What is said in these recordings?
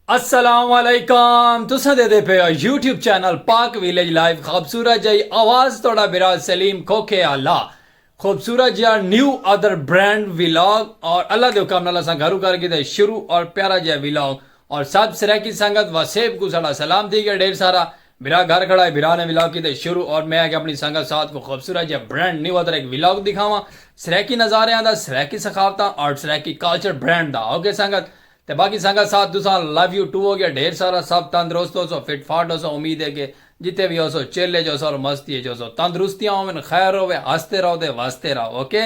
السلام علیکم تساں دے دے پے ہو YouTube channel Pak village live خوبصورت جائی آواز توڑا برا سلیم کھوکھے آلا خوبصورت جیا نیو ادر برینڈ ویلاگ اور اللہ دے حکم نالا ساں گھرو کر کی دے شروع اور پیارا جیا ویلاگ اور سب سریکی سنگت و سیب کو سڑا سلام تھی گیا ڈیر سارا برا گھر کھڑا ہے برا نے ویلاگ کی دے شروع اور میں آگے اپنی سنگت ساتھ کو خوبصورت جیا برینڈ نیو ادر ایک ویلاگ دکھاواں سریکی نظارے آن دا سریکی سخاوتاں اور سریکی کالچر برینڈ دا اوکے سنگت تے باقی سنگت ساتھ تساں لو یو ٹو ہو گیا ڈھیر سارا سب تندرست ہوسو فٹ فاٹ ہوسو امید ہے کہ جتھے وی ہوسو چل اچ ہوسو اور مستی اچ ہوسو تندرستیاں ہوون خیر ہووے ہستے رہو تے وستے رہو اوکے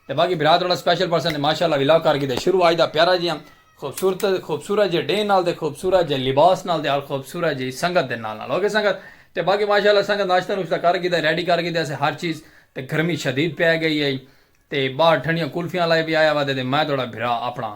تے باقی بھرا تہاڈا سپیشل پرسن تے ماشاءاللہ ولاگ کر کیتے شروع اج دا پیارا جیہاں خوبصورت خوبصورت جے ڈینھ نال تے خوبصورت جے لباس نال تے اور خوبصورت جیہی سنگت دے نال نال اوکے سنگت تے باقی ماشاءاللہ سنگت ناشتہ نوشتہ کر کیتے ریڈی کر کیتے اسے ہر چیز تے گرمی شدید پے گئی ہے تے باہر ٹھنڈیاں کلفیاں لائے پی آیا وا تے میں تہاڈا بھرا اپنا۔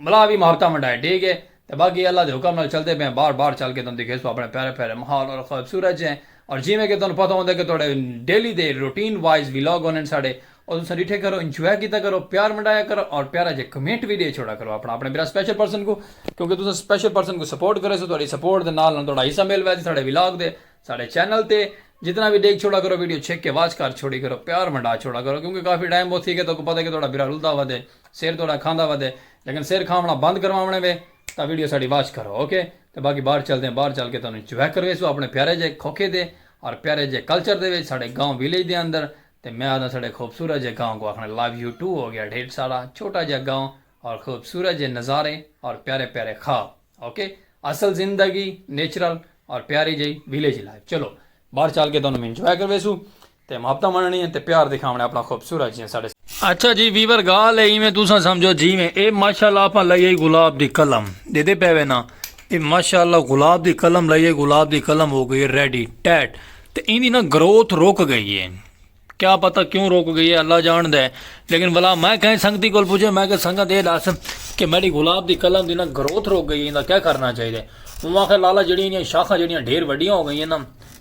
ملا وی مہارتاں ونڈائے ڈے گئے تے باقی اللہ دے حکم نال چلدے پئے ہیں بار بار چل کے تہاڈوں دکھیسوں اپنے پیارے پیارے ماحول اور خوبصورت جے اور جیویں کہ تہاڈوں پتہ ہوندے کہ تہاڈے ڈیلی دے روٹین وائز ولاگ ہوندے ساڈے او تساں ڈٹھے کرو انجوائے کیتا کرو پیار ونڈایا کرو اور پیارا جے کمنٹ وی ڈے چھوڑا کرو اپنا اپنے بھرا سپیشل پرسن کوں کیونکہ تساں سپیشل پرسن کوں سپورٹ کریسو تہاڈی سپورٹ دے نال نال تہاڈا حصہ مل ویسی ساڈے ولاگ دے ساڈے چینل تے جتنا وی ڈیکھ چھوڑا کرو ویڈیو چھک کے واچ کر چھوڑی کرو پیار ونڈا چھوڑا کرو کیونکہ کافی ٹائم بہت تھی گئے تہاکوں پتہ ہے کہ تہاڈا بھرا رلدا ودے سر تہاڈا کھاندا ودے لیکن سر کھاونڑاں بند کرواونڑے وے تاں ویڈیو ساڈی واچ کرو اوکے تے باقی باہر چلدے ہیں باہر چل کے تہانوں انجوائے کرویسوں اپنے پیارے جے کھوکھے دے اور پیارے جے کلچر دے وچ ساڈے گاؤں ویلیج دے اندر تے میں آکھداں ساڈے خوبصورت جے گاؤں کوں آکھنڑاں لو یو ٹو ہو گیا ڈھیر سارا چھوٹا جیہا گاؤں اور خوبصورت جے نظارے اور پیارے پیارے خواب۔ اوکے اصل زندگی نیچرل اور پیاری جی ویلیج لائف چلو باہر چل کے تمہیں انجوائے کروے سو تے محبت مننی ہے تے پیار دکھاونا اپنا خوبصورت جی ساڈے اچھا جی ویور گال ہے ایویں تساں سمجھو جی میں اے ماشاءاللہ اپا لئیے گلاب دی قلم دے دے پے نا اے ماشاءاللہ گلاب دی قلم لئیے گلاب دی قلم ہو گئی ریڈی ٹیٹ تے ایندی نا گروتھ رک گئی ہے کیا پتہ کیوں رک گئی ہے اللہ جان دے لیکن بلا میں کہیں سنگتی کول پوچھے میں کہ سنگت اے دس کہ میری گلاب دی قلم دی نا گروتھ رک گئی ہے کیا کرنا چاہیے دے وہ آخر لالا جڑی انہیں شاخہ جڑی انہیں ڈھیر وڈیاں ہو گئی ہیں نا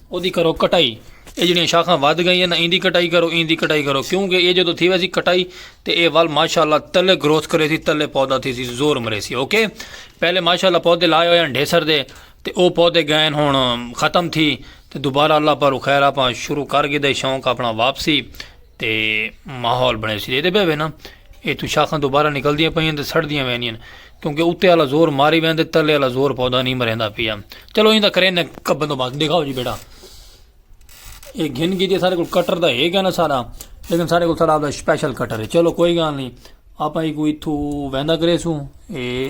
او دی کرو کٹائی اے جڑی شاخہ ود گئی ہیں نا ان دی کٹائی کرو ان دی کٹائی کرو کیونکہ اے جو تو تھی ویسی کٹائی تے اے وال ماشاءاللہ تلے گروتھ کرے تھی تلے پودا تھی سی زور مرے سی اوکے پہلے ماشاءاللہ پودے لائے ہوئے ہیں ڈھیسر دے تے او پودے گئین ہن ختم تھی تے دوبارہ اللہ پاروں خیر اپاں شروع کر گھدے شوق اپنا واپسی تے ماحول بنے سی دے بے نا اے تو شاخاں دوبارہ نکل دیاں پئیاں تے سڑ دیاں وینیاں کیونکہ اتے والا زور ماری وین تے تلے والا زور پودا نہیں مریندا پیا چلو ایندا کرے نے کبن تو بات دکھاؤ جی بیٹا اے گھن گھدے سارے کول کٹر دا ہے گا نا سارا لیکن سارے کول سارا سپیشل کٹر ہے چلو کوئی گال نہیں آپ ہی کوئی تھو ویندا کرے سو اے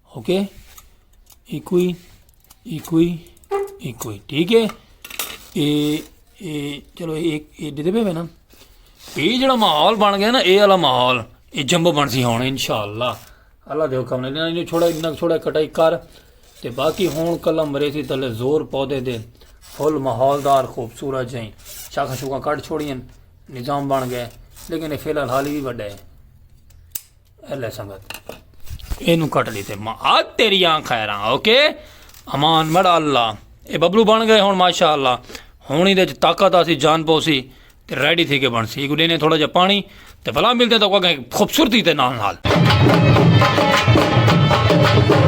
اوکے ایکوئی ایکوئی ایکوئی ٹھیک ہے اے اے چلو ایک اے دے دے میں نا اے جڑا ماحول بن گیا نا اے والا ماحول اے جمبو بن سی ہون انشاءاللہ اللہ دے حکم نے انہاں چھوڑا اتنا چھوڑا کٹائی کر تے باقی ہون کلا مرے سی تلے زور پودے دے فل ماحول دار خوبصورت جائیں شاخا شوکا کٹ چھوڑی نظام بن گئے لیکن اے فی الحال حالی بھی بڑا ہے اللہ سنگت اینو کٹ لیتے ماں آگ تیری آن خیران اوکے امان مڑا اللہ اے ببلو بن گئے ہون ماشاء اللہ ہونی دے طاقت آسی جان پوسی تے ریڈی تھی کے بن سی ایک دینے تھوڑا جا پانی تے بھلا ملتے تو کوئی خوبصورتی تے نال نال Thank you.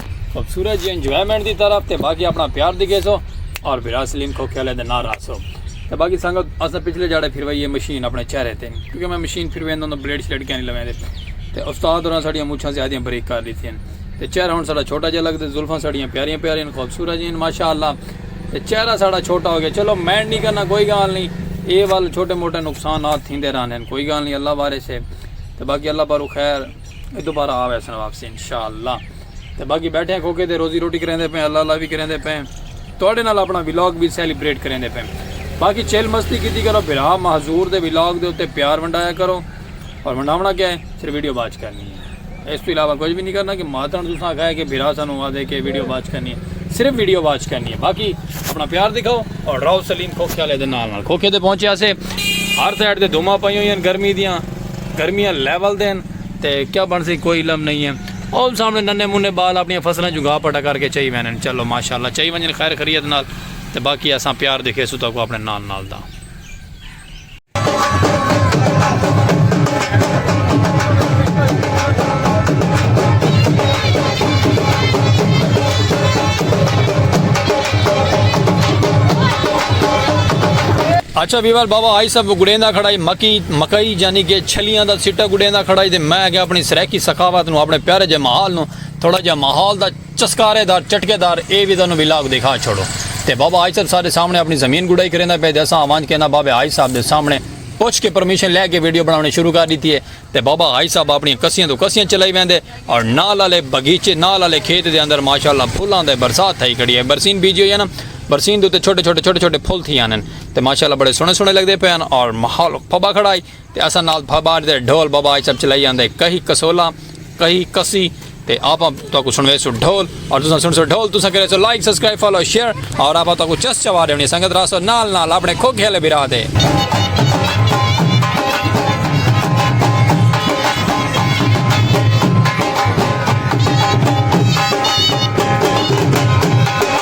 خوبصورت جی انجوائمنٹ دی طرف تے باقی اپنا پیار دی گیسو اور برا سلیم کھو کھیلے دے نار آسو تے باقی سنگت اسا پچھلے جاڑے پھر وہی یہ مشین اپنے چہرے تے کیونکہ میں مشین پھر ویندوں تو بلیڈ شلیڈ کیا نہیں لویں دے تے استاد اور ساڑیاں مچھاں زیادہ بریک کر دیتی ہیں تے چہرہ ہن ساڑا چھوٹا جا لگ دے زلفاں ساڑیاں پیاریاں پیاریاں خوبصورت جی ہیں ماشاءاللہ تے چہرہ ساڑا چھوٹا ہو گیا چلو مینڈ نہیں کرنا کوئی گال نہیں اے وال چھوٹے موٹے نقصانات تھیندے رہنے کوئی گال نہیں اللہ وارث ہے تے باقی اللہ پارو خیر اے دوبارہ آ ویسن واپسی انشاءاللہ تے باقی بیٹھے ہیں کھوکے دے روزی روٹی کریں دے پیں اللہ اللہ بھی کریں دے پیں توڑے نال اپنا ویلاگ بھی سیلیبریٹ کریں دے پیں باقی چیل مستی کی تھی کرو بھرا محضور دے ویلاگ دے اتے پیار ونڈایا کرو اور ونڈاونا کیا ہے صرف ویڈیو باج کرنی ہے اس تو علاوہ کچھ بھی نہیں کرنا کہ ماتن تو ساں کھائے کہ بھرا سانو ہوا دے کہ ویڈیو باج کرنی ہے صرف ویڈیو باج کرنی ہے باقی اپنا پیار دکھاؤ اور راؤ سلیم کھوکے والے دے نال نال کھوکے دے پہنچے آسے ہر سائڈ دے دھوما پائی ہوئی ہیں گرمی دیاں گرمیاں لیول دے ہن تے کیا بنسی کوئی علم نئیں ہے او سامنے ننے منے بال اپنیاں فصلاں چوں گھا پٹا کر کے چئی وینن چلو ماشاءاللہ چئی ونجن خیر خریت نال تے باقی اساں پیار دکھیسوں تہاکوں اپنے نال نال دا۔ اچھا ویور بابا آئی سب گڑیندا کھڑائی مکی مکئی جانی کہ چھلیاں دا سٹہ گڈیندا کھڑا ہئی تے میں اگے اپنی سرائیکی ثقافت نوں اپنے پیارے جے ماحال نوں تھوڑا جیہا ماحول دا چسکارے دار چٹکے دار اے ویزا نوں ولاگ دکھا چھوڑو تے بابا حاج صاحب سارے سامنے اپنی زمین گڈائی کریندا پئے تے اساں اونج کیندا بابے حاج صاحب دے سامنے پچھ کے پرمیشن لے کے ویڈیو بناونی شروع کر ڈیتی اے تے بابا حاج صاحب اپنیاں کسیاں توں کسیاں چلائی ویندے اور نال آلے بغیچے نال آلے کھیت دے اندر ماشاءاللہ پھلاں دے برسات تھئی کھڑی اے برسین بیجی ہوئی اے نا برسین دے اتے چھوٹے چھوٹے چھوٹے چھوٹے پھل تھی آنن تے ماشاء اللہ بڑے سوہنے سوہنے لگدے پئے ہن اور ماحول پبا کھڑا ہئی تے اساں نال بھا باج دے ڈھول باباج سب چلائی آندے کہیں کسولاں کہیں کسی تے آپاں تہاکوں سنویسوں ڈھول اور تساں سنسو ڈھول تساں کرے سو لائک سبسکرائب فالو شیئر اور آپاں تہاکوں چس چوا ڈیونی سنگت راسو نال نال اپنے کھوکھے والے بھرا دے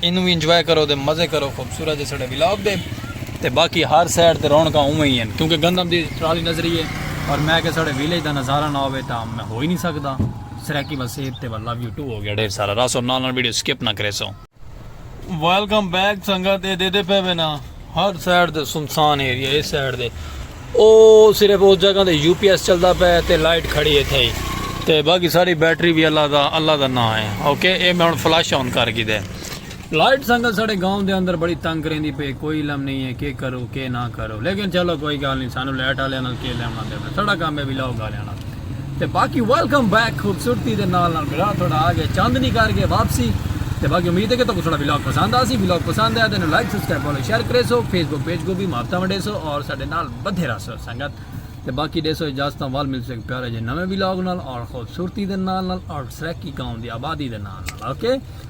اینوں وی انجوائے کرو تے مزے کرو خوبصورت دے سڑے ولاگ دے تے باقی ہر سائڈ تے رونکاں اوویں ہی ہیں کیونکہ گندم دی ٹرالی نظری ہے اور میں کہ سڑے ویلیج دا نظارہ نہ ہوے تا میں ہو ہی نہیں سکدا سرائیکی وسیب تے واللہ ویو ٹو ہو گیا ڈھیر سارا راسو نال نال ویڈیو سکپ نہ کریسو ویلکم بیک سنگت اے دے دے پے وینا ہر سائیڈ دے سنسان ایریا ہے اس سائیڈ دے او صرف اس جگہ دے یو پی ایس چلدا پے تے لائٹ کھڑی ہے تھے ہی تے باقی ساری بیٹری بھی اللہ دا اللہ دا نہ ہے اوکے اے میں ہن فلش آن کر گی دے لائٹ سنگل ساڑے گاؤں دے اندر بڑی تنگ کریں دی پے کوئی علم نہیں ہے کہ کرو کہ نہ کرو لیکن چلو کوئی گال نہیں سانو لائٹ آلے انہوں کے لیمنا دے میں ساڑا کام ہے بھی لاؤ گالے انہوں تے باقی ویلکم بیک خوبصورتی دے نال نال بلاگ تھوڑا آ گیا چاندنی کر گئے واپسی تے باقی امید ہے کہ تکو تھوڑا بلاگ پسند آسی بلاگ پسند ہے تینوں لائک سبسکرائب فالو شیئر کرے سو فیس بک پیج کو بھی ماپتا ونڈے سو اور ساڈے نال بدھے رہ سو سنگت تے باقی دے سو اجازت وال مل سو ایک پیارے جے نویں بلاگ نال اور خوبصورتی دے نال نال اور سرکی گاؤں دی آبادی دے نال نال اوکے okay.